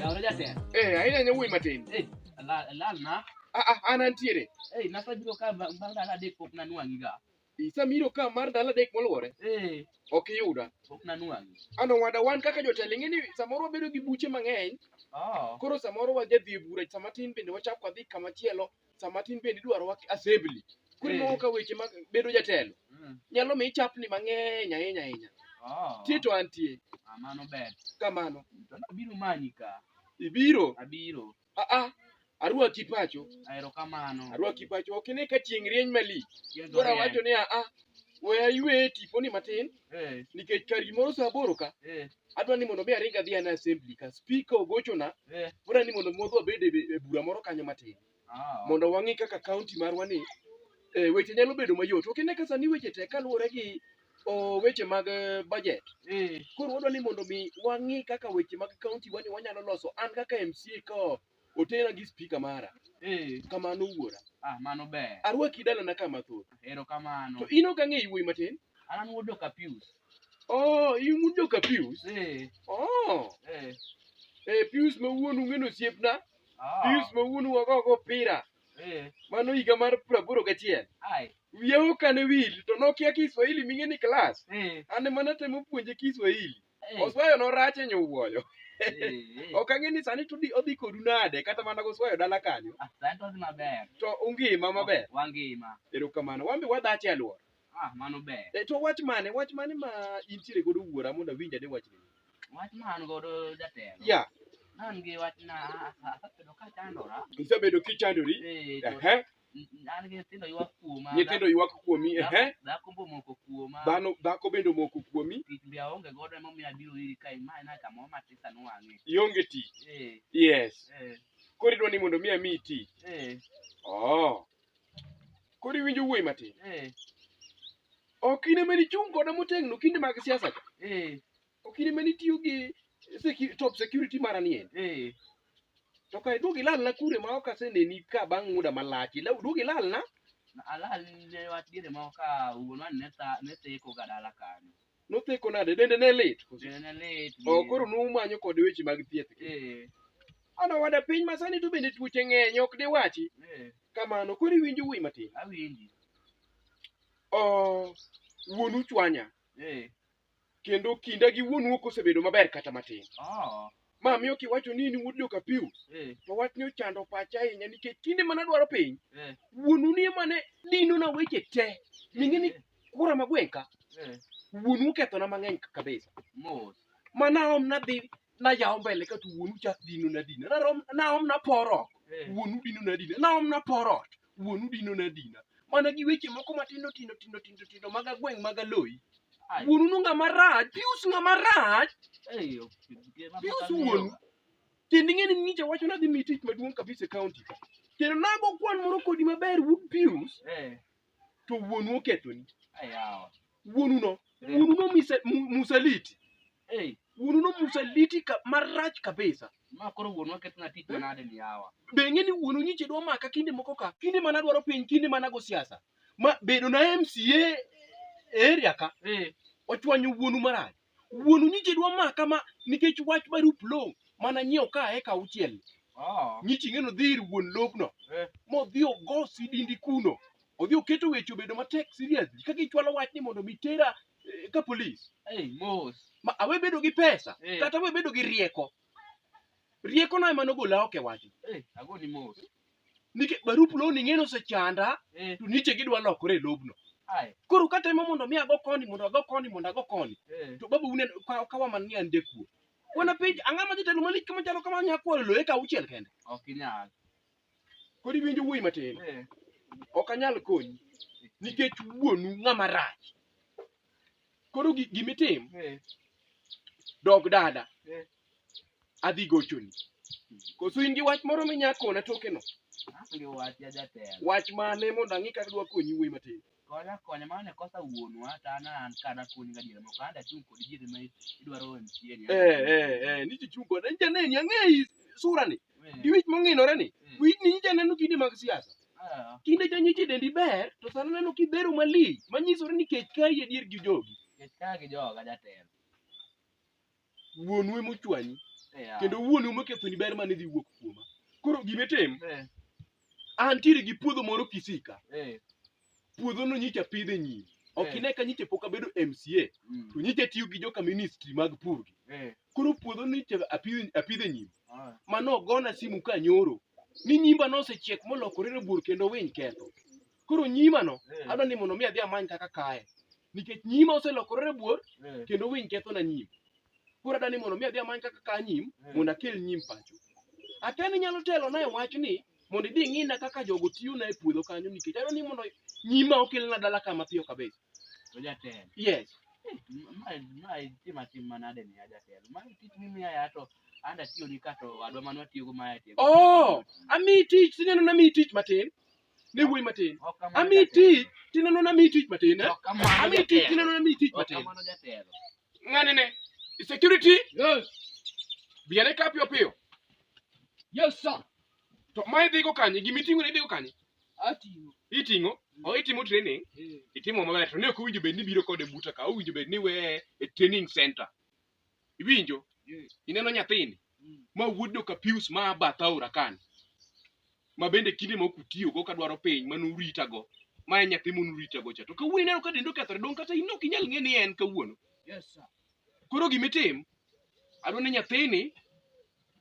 Yawa jatelo. Eh, aina nyo wuoyi matin. Eh, ala- alal na. Ah, ah, an antiere. Eh, nasabiro ka ba- bang' ndalo adek pok nanwang'i ga. Isamiro ka mar ndalo adek moluwore. Eh, Ok iyuda. pok nanwang'i. Ano wada wan kaka jotelo ing'e ni samoro wabedo gi buche mang'eny. Oh. Koro samoro wadhi dhi e bura sama tin bende wachako wadhi kama chielo. sama tin bende idwaro wak assembly koro Eh. ineno ka weche mag bedo jatelo Mm. nyalo mi ichapni mang'eny ahinya ahinya Oh, tie to antie ah, mano ber. kamano To nabiro manyi ka. ibiro Abiro. aa arwaki pacho Ahero kamano. arwaki pacho ok ine ka chieng' rieny malich Chieng' koro awacho orieny. ni aa we aywe tiponi matin Eh, nikech kar gimoro saa aboro ka eh, adwa ni mondo mi aring adhi ane assembly ka speaker ogochona Eh. bora ni mondo mwadhi wabed e e bura moro kanyo matin Ah, mondo wang'i kaka county marwa ni eh, weche nyalo bedo mayot ok ine ka sani weche tek kaluwore gi oh, weche mag eh, budget eh, koro wadwa ni mondo mi wang'i kaka weche mag county wani wanyalo loso an kaka MCA ka Otera gi spika mara. Eh. Kamano wuora. Ah, mano ber. Arwaki dalana kama thoth. Ero kamano. To in ok ang'e iwuoyi matin? An an wuod Doka Pius. Oh, in wuod Doka Pius? Eh. Oh. Eh. Eh, Pius ma wuonu ng'eno osiepna. Ah. Pius ma wuonu wago go pira. Eh. Mano higa mar praboro gachiel. Ai. Wiya okane wil to nokia Kiswahili ming'e ni klas. Eh. An ema natemo puonje Kiswahili. Oswayo norach e nyowuoyo. Ok ang'e ni sani to di- odhi kodu nade kata mana goswayo dala kanyo. Asato dhi maber. To ungima maber. Wangima. Erokamano. Wan be wadhache alwora. Ah, mano ber. E, to wach mane? Wach mane ma intiere godo wuora mondo awinj ane wachni? Wach ma an godo jatelo. Ya, An gi wach na asabedo ka chandora. isebedo kichandori. Eh, to Ehe. N- an gi nyithindo ywak kuoma nyithindo ywak kuomi dhako- ehe dhako mbo moko kuoma dhano dhako bende omoko kuomi tich be aonge godo emomiyo abiro iri ka imaye na kamoro matisa nwang'e ionge tich Eh, yes eh, koro idwa ni mondo mi amiyi tich eh, oh. koro iwinjo wuoyi matin eh, ok in ema nichung' koda motegno kinde mag siasa ka eh, okine mane itiyo gi secu- top security mara ni en Eh. to kae duog ilalna kure ma ok aseneni ka bang' muda malach Ila- duog ilalna Alal ne wach diere moko ka wuonwa ne tha- ne theko ga dala kanyo. notheko nade dende ne lit Dende ne lit. o ni- koro numanyo kod weche mag thieth Eh. ana wada piny masani to bende tuoche ng'eny ok diwachi Eh. kamano koro iwinjo wuoyi matin Awinji. o wuonu chwanya Eh. kendo kinda gi wuonu ok osebedo maber kata matin. Oh. Ma miyo kiwacho ni in wuod jokapiu Eh. to wachni ochando pacha ahinya nikech kinde mana dwaro piny Eh. wuonu ni ema ne dinona weche te ming'e ni kura magwenka Eh. wuonu okethona mang'eny kabisa Mos. manaom nadhi nayawo mbele ka to wuonu chak dino na dina narom naom naporo Eh. wuonu dino na dina naom naporo ot wuonu dino na dina mana gi weche moko matindo tindo tindo tindo tindo mag agweng' mag aloyi Ai. wuonu nu ng'a marach pius ng'a marach Eh, ok, gima pius pok wuonu ang'eyo. kendo ing'e ni ng'icha wacho nadhi mi tich maduong' kabisa e kaonti ka kendo nago kwan moro kodi maber wuod pius Eh, to wuonu okethoni eh, yawa. wuonuno Eh. wuonuno mise- mu- musaliti Hey, wuonuno musaliti ka, marach kabisa ma koro wuonwa ketna tich manade ni yawa. be ing'e ni wuonu nyiche dwa maka kinde moko ka kinde mana dwaro piny kinde mana go siasa ma bedo na mca e area ka Hey, ochwanyo wuonu marach Wuonu nyiche dwa maka ma nikech wach barup lowo mana nyiewo ka eka auchiel. Oh. Nyichi ng'eno dhi ir wuon lobno Eh. modhi ogo sidindi kuno. Odhi oketo weche obedo matek serious ka gichwalo wach ni mondo mi tera eh, ka polis. Hey, mos. Ma awe bedo gi pesa Eh. kata awe bedo gi rieko. rieko na ema nogola oko e wachno Eh, agoni mos. nikech barup loni ng'eno osechanda Eh, to niche gidwa lokore e lobno ai. koro katemo mondo mi ago koni mondo ago koni mondo ago koni Eh, to babu unen ka- kawa man ni an jakuo wana penj ang'ama jatelo malik kama chalo kama nya kwalo loye ka auchiel kende ok inyal. Kodi winjo wuoyi matin. Eh. Ok anyal konyi nikech wuonu ng'ama rach. Koro gi- gimitim Eh. dog dada Eh. adhi gochoni. Koso in gi wach moro minyakona tokeno. Onge wach ya jatelo. Wach mane mondo ang'i kaka dwa konyi wuoyi matin. Konya konya mano ne kosa wuonwa to an an ka dakonyi gadiera moko an dachung' kodi diere ma idwaro e mtieni. Eh, eh, eh, ni chichung' koda. Nyicha neni, ang'eyi sura ni. Gi wich mong'inore ni. Wich ni nyicha neno kinde mag siasa. Ah, Kinde cha nyicha dendi ber, to sani neno kibero malich. Manyisore ni kech kayi adier gi jogi. kech ka gi joga jatelo. wuonu ema ochwanyi Yeah. kendo wuonu ema okethoni ber mane dhi wuok kuoma koro gime tim Eh, antiere gi puodho moro kisika eh, puodhono nyicha pidhe nyiri ok Eh. ine ka nyicha pok abedo mca mm, to nyicha tiyo gi joka ministry mag pur gi eh, koro puodho nyicha apidhe apidhe nyiri ah, mano ogona simu ka nyoro ni nyimba nosechiek molokore rabuor kendo winy ketho koro nyima no Eh. adwa ni mondo mi adhi amany kaka kaye nikech nyima oselokore rabuor Eh. kendo winy kethona nyim koro adwa ni mondo mi adhi amany kaka kaa nyim Eh. mondo akel nyim pacho akia ni nyalo telona e wach ni mondo idhi ing'ina kaka jogo tiyona e puodho kanyo nikech adwa ni mondo nyima okelna dala kama piyo kabisa To jatelo. yes Ma ma tima tim manade ni jatelo. Ma tich mimi ya to anda tiyo ni kato adwa manwa tiyo go ma ya tiyo. oh amiyi tich sinyalo na miyi tich matin ne wuoyi matin ami tich tineno na mi tich matin eh? ami tich tineno na mi tich matin ng'ane ne security yes biane ka piyo piyo yes sir to ma idhigo kanye gima iting'o ne idhigo kanye ating'o iting'o o itimo training eh. itimo maber to ne ok owinjo bed ni biro kode buta ka owinjo bed ni weye e training center iwinjo Yes. ineno nyathini Mm. ma wuod joka pius ma a bath aora kani ma bende kinde ma ok utiyogo ka dwaro piny ma nuritago ma en nyathi munuritago cha to kawuono ineno ka dende okethore dong kata in ok inyal ng'e ni en kawuono Yes, sir. koro gimitim adwa ni nyathini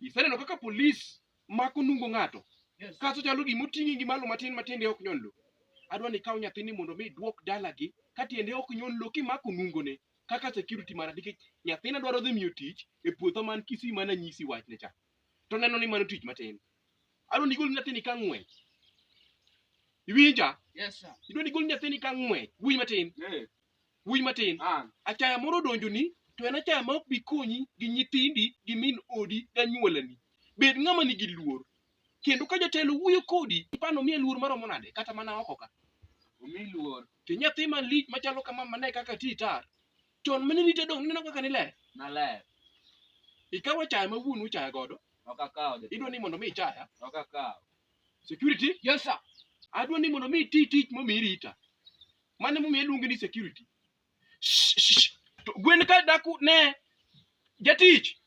iseneno kaka polis mako nungo ng'ato Yes. kaso chalo gima oting'i gi malo matin ma tiende ok nyon lo adwa ni ikaw nyathini mondo mi idwok dalagi ka tiende ok nyon lo kimako nungone kaka security mana nikech nyathina dwaro dhi miyo tich e puotho man Kisii mana nyisi wachne cha to neno ni mano tich matin adwa ni igol nyathini ka ng'wech iwinja Yes, sir. idwa ni igol nyathini ka ng'wech wuoyi matin Eh, wuoyi matin ah, achaya moro odonjoni to en achaya ma ok bi konyi gi nyithindi gi min odi gi anyuolani bed ng'ama nigi luor kendo ka jatelo wuoyo kodi ipano miye luor maromo nade kata mana oko ka omi luor to nyathi man lich machalo kama mane kaka ti tar chon mane rite dong neno kaka niler naler ikawo chaya ma wuonu chaya godo ok akawo jatelo idwa ni mondo mi ichaya ok akawo security yes sir adwa ni mondo mi iti tich momi rita mane momiyo iluonge ni security Shh, shh, shh. To gwen ka daku ne jatich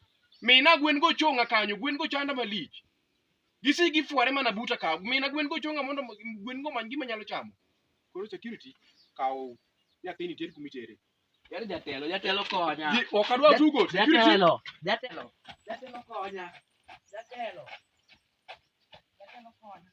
mina gwen go chonga kanyo gwen go chanda malich gisi gifware mana buta ka mina gwen go chonga mondo mo- gwen go many gima nyalo chamo koro security kawo nyathini ter kuma itere Yar jatelo, jatelo konya. Ji- ok adwa tugo security Jatelo, jatelo. Jatelo konya. Jatelo. Jatelo konya.